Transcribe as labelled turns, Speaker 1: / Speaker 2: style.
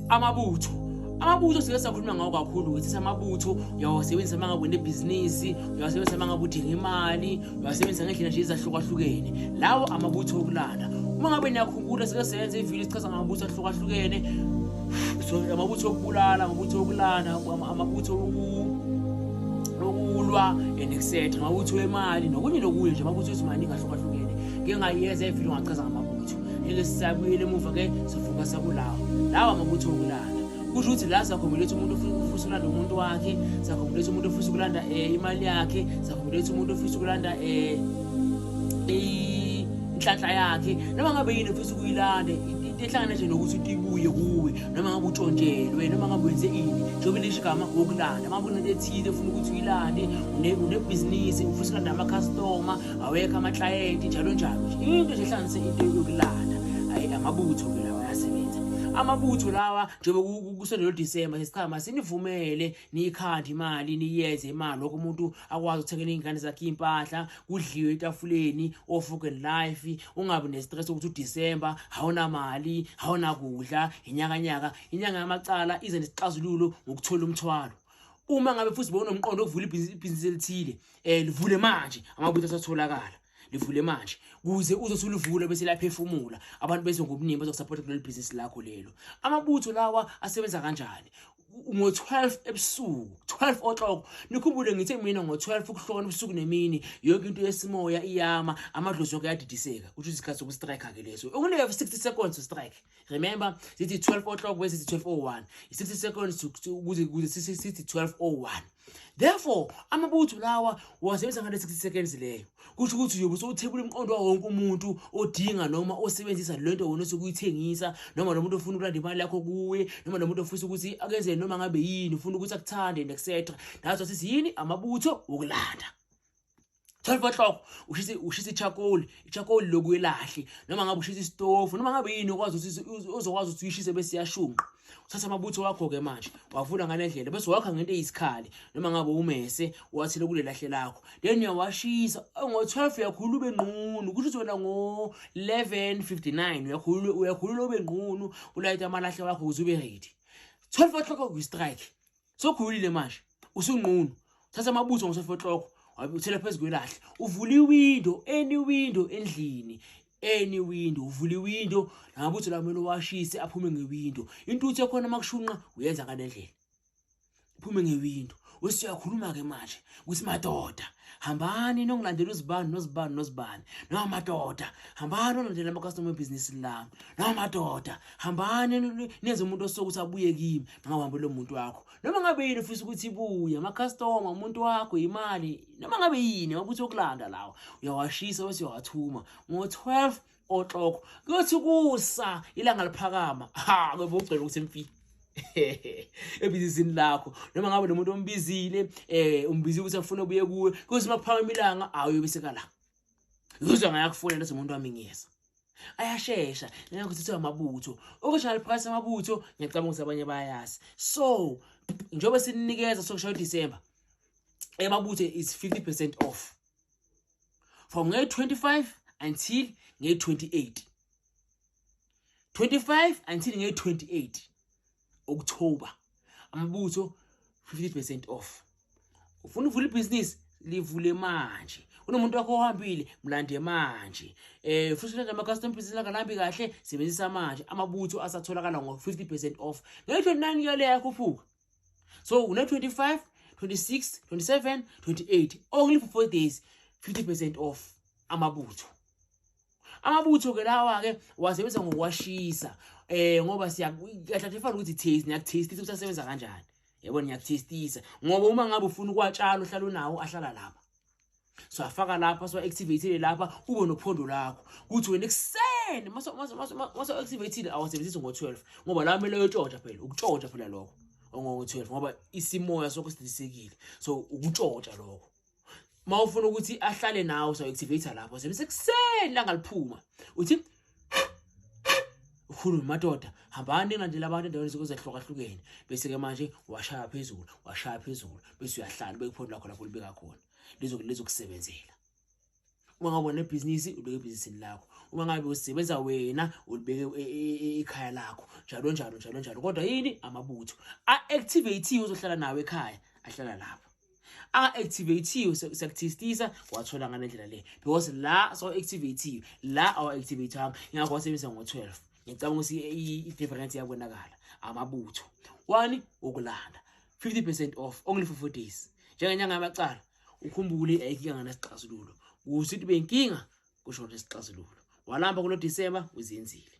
Speaker 1: amabutho amabutho sike sakhuluma ngawo kakhulu ukuthi samabutho uyawasebenzisa uma ngabe unebhizinisi uyawasebenzisa uma ngabe udinga imali uyawasebenzisa ngendlela nje ezahlukahlukene lawo amabutho okulala uma ngabe niyakhumbula sike senze ividiyo sichaza ngamabutho ahlukahlukene so amabutho okubulala amabutho okulana amabutho okulwa and etc amabutho emali nokunye nokunye nje amabutho ezimaningi ahlukahlukene ngingayeza ividiyo ngachaza ngamabutho ngeke sisabuyele emuva ke sivuka sakulawo lawo amabutho okulala kusho ukuthi la sakhombelisa umuntu ofisa ukulanda umuntu wakhe sakhombelisa umuntu ofisa ukulanda um imali yakhe sakhombelisa umuntu ofisa ukulanda um inhlanhla yakhe noma ngabe yini ofisa ukuyilanda ehlangana nje nokuthi utibuye kuwe noma ngabe utshontshelwe noma ngabe wenze ini njengoba lisho igama wokulanda uma kunento ethile ufuna ukuthi uyilande unebhizinisi ufuna ukulanda amakhastoma awekho amaklayenti njalo njalo nje into nje ehlanganise into yokulanda ayi amabutho ke lawa ayasebenza amabutho lawa njengoba kusondela uDisemba sesichama sinivumele niyikhande imali niyenze imali lokho umuntu akwazi ukuthengela izingane zakhe impahla kudliwe etafuleni ofugeni life ungabi nestress ukuthi uDisemba hawuna mali hawuna kudla inyaka nyaka inyanga yamacala ize nesixazululo ngokuthola umthwalo uma ngabe futhi bowunomqondo ovula ibhizinisi elithile eh livule manje amabutho asatholakala livule manje kuze uzothi ulivule bese laphefumula abantu bese ngobuningi bazokusupport kuleli business lakho lelo amabutho lawa asebenza kanjani ngo-12 ebusuku 12 o'clock nikhumbule ngithe mina ngo-12 ukuhlona ubusuku nemini yonke into yesimoya iyama amadlozi yonke ayadidiseka kusho isikhathi sokustrike-ke leso okuneke 60 seconds strike remember sithi 12 o'clock bese sithi 1201 i60 seconds ukuze ukuze sithi 1201 therefore amabutho lawa wasebenzisa ngale 60 seconds leyo kusho ukuthi uyobe sowuthebula umqondo wawo wonke umuntu odinga noma osebenzisa lento wona sokuyithengisa noma nomuntu ofuna ukulanda imali yakho kuwe noma nomuntu ofisa ukuthi akenze noma ngabe yini ufuna ukuthi akuthande etc that's what is yini amabutho wokulanda 12 o'clock ushise ushise charcoal charcoal lokuyelahle noma ngabe ushise istofu noma ngabe yini okwazi ukuthi uzokwazi ukuthi uyishise bese yashunqa uthatha amabutho wakho ke manje wavula ngalendlela bese wakha ngento eyisikhathi noma ngabe umese wathile kule lahle lakho then uyawashisa ngo 12 uyakhulula ube nqunu kusho ukuthi wena ngo 11:59 uyakhulula uyakhulula ube nqunu ulayita amalahle wakho ukuze ube ready 12 o'clock uyi strike sokhulile manje usunqunu thatha amabutho ngosofotloko wabuthela phezu kwelahle uvula iwindo any window endlini any window uvula iwindo namabutho lawo kumele uwashise aphume ngewindo intuthu ekhona uma kushunqa uyenza ngalendlela uphume ngewindo wesiyakhuluma-ke manje ukuthi madoda hambani nongilandela uzibani nozibani nozibani noma madoda hambani olandela ama-customer ebhizinisi lami noma madoda hambani nenze umuntu osoke ukuthi abuye kimi mangawuhambe lo muntu wakho noma ngabe yini ufisa ukuthi ibuye ama-customer umuntu wakho yimali noma ngabe yini wakuthi okulanda lawa uyawashisa bese uyawathuma ngo-12 oxoko kuyothi kusa ilanga liphakama ha ngoba ugcela ukuthi mfi ebizini lakho noma ngabe nomuntu ombizile eh umbizile ukuthi afuna ubuye kuwe kuthi makuphakama ilanga awuyobiseka la uzwa ngayakufuna leso muntu wami ngiyeza ayashesha ngeke uthethe amabutho okushaye liphakathi amabutho ngiyacabanga ukuthi abanye bayayazi so njengoba sininikeza sokushaya uDecember emabutho is 50% off from nge 25 until nge 28 25 until nge 28 October amabutho 50% off ufuna uvula ibhizinisi livule manje unomuntu wakho ohambile mlande manje eh futhi landa ama custom pieces langalambi kahle sebenzisa manje amabutho asatholakala ngo 50% off ngisho nani yale yakho fuka so une-25 26 27 28 only for four days 50 percent off amabutho amabutho ke lawa ke wasebenza ngokwashisa eh ngoba siyakathathefana ukuthi taste niyakutastisa ukuthi asebenza kanjani yebo niyakutastisa ngoba uma ngabe ufuna ukuwatshala uhlala unawo ahlala lapha siwafaka lapha siwa-activatile lapha ube nophondo lakho ukuthi wena ekuseni masiwa-activatile awasebenzisi ngo-twelve ngoba lawa kumele uyotshotsha phela ukutshotsha phela lokho ongo-twelve ngoba isimoya sokho sidilisekile so ukutshotsha lokho uma ufuna ukuthi ahlale nawe siwa-activate lapho sebenzisa ekuseni langaliphuma uthi ukhulume madoda hambani engalandela abantu endaweni zokuzehlukahlukeene bese-ke manje washaya phezulu washaya phezulu bese uyahlala ubekuphondo lakho lapho libeka khona lizokusebenzela uma ngabe unebhizinisi ubeke ebhizinisini lakho uma ngabe usebenza wena ulibeke e, e, e, ekhaya lakho njalo njalo njalo njalo kodwa yini amabutho a-activathiwe uzohlala nawo ekhaya ahlala lapho a-activathiwe sekuthistisa wathola ngale ndlela le because la sawa-activathiwe la awa-activathanga ngakho wasebenzisa ngo-twelve ngicabanga ukuthi i-difference iyabonakala amabutho one ukulanda fifty percent off only for four days njengenyanga yamacala ukhumbule ayikika nganasixazululo kuthi ukuthi benkinga kusho nesixazululo walamba kulo disemba uzenzile